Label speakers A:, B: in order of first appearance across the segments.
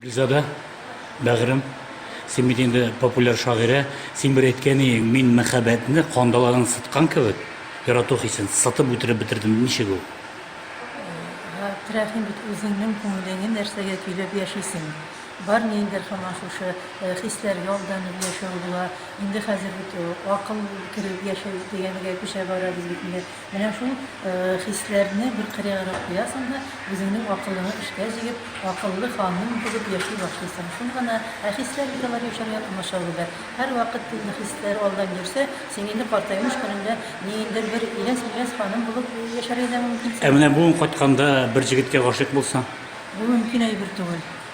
A: Гөлзада, бәгърем, син бит инде популяр шагыйрә, син бер әйткән иең, мин мәхәббәтне кандаларын сыткан кебек, ярату хисен сытып үтереп бетердем, ничек ул? Габдрәхим бит үзеңнең күңелеңне нәрсәгә көйләп яшисең? Бар ни инде һаман шушы э, хисләргә алданып яшәү була. Инде хәзер бит э, акыл кереп яшәү дигәнегә күчә барабыз бит инде. Менә шул хисләрне бер кырыярак куясың да, үзеңнең акылыңы эшкә җигеп, акыллы ханым булып яши башлыйсың. Шул гына. Ә хисләр бит алар яшәргә комачаулыйлар. Һәрвакыт тилне хисләр алдан йөрсә, син инде картаймыш көнеңдә ниндидер бер иләс-миләс ханым булып яшәргә дә мөмкинсең. Ә менә бүген кайтканда бер җегеткә гашыйк булсаң? Бу мөмкин әйбер түгел.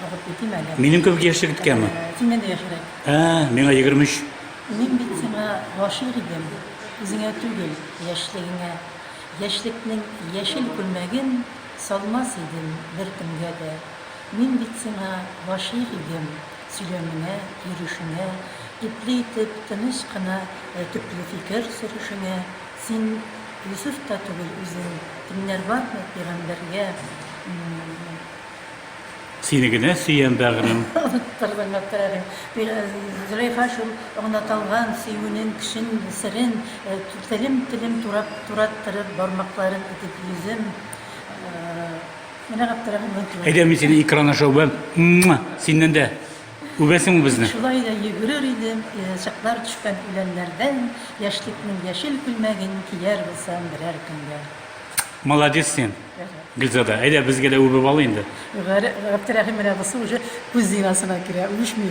A: Вакыт бетим әле. Минем кебек яшьлек иткәме? Синнән дә яшьрәк. Ә, миңа 23. Мин бит сиңа гашыйк идем. Үзеңә түгел, яшьлегеңә. Яшьлекнең яшел күлмәген салмас идем беркемгә дә. Мин бит сиңа гашыйк идем, сөйләмеңә, йөрешеңә, ипле итеп, тыныч кына төпле фикер сөрүшеңә. Син Йосыф та түгел үзең, кемнәр бармы пигамбәргә. Сине генә сөям, бәгърем. Оныттырдың, Гаптерәдең. Зөләйха шул онытылган сөюнен, кешен, серен телем-телем турап, тураттырып, бармакларын итеп йөзем. Менә Гаптерәдең онытылган. Әйдә, мин сине экран аша үбәм. Синнән дә үбәсең безне. Шулай да йөгерер идем, чыклар төшкән үләннәрдән, яшьлекнең яшел күлмәген кияр булсам берәр көнгә. Молодец син, Гөлзада. Әйдә, безгә дә үбеп ал инде. Гәр- Габдерәхим менә бусы уже күз зинасына керә, үчми.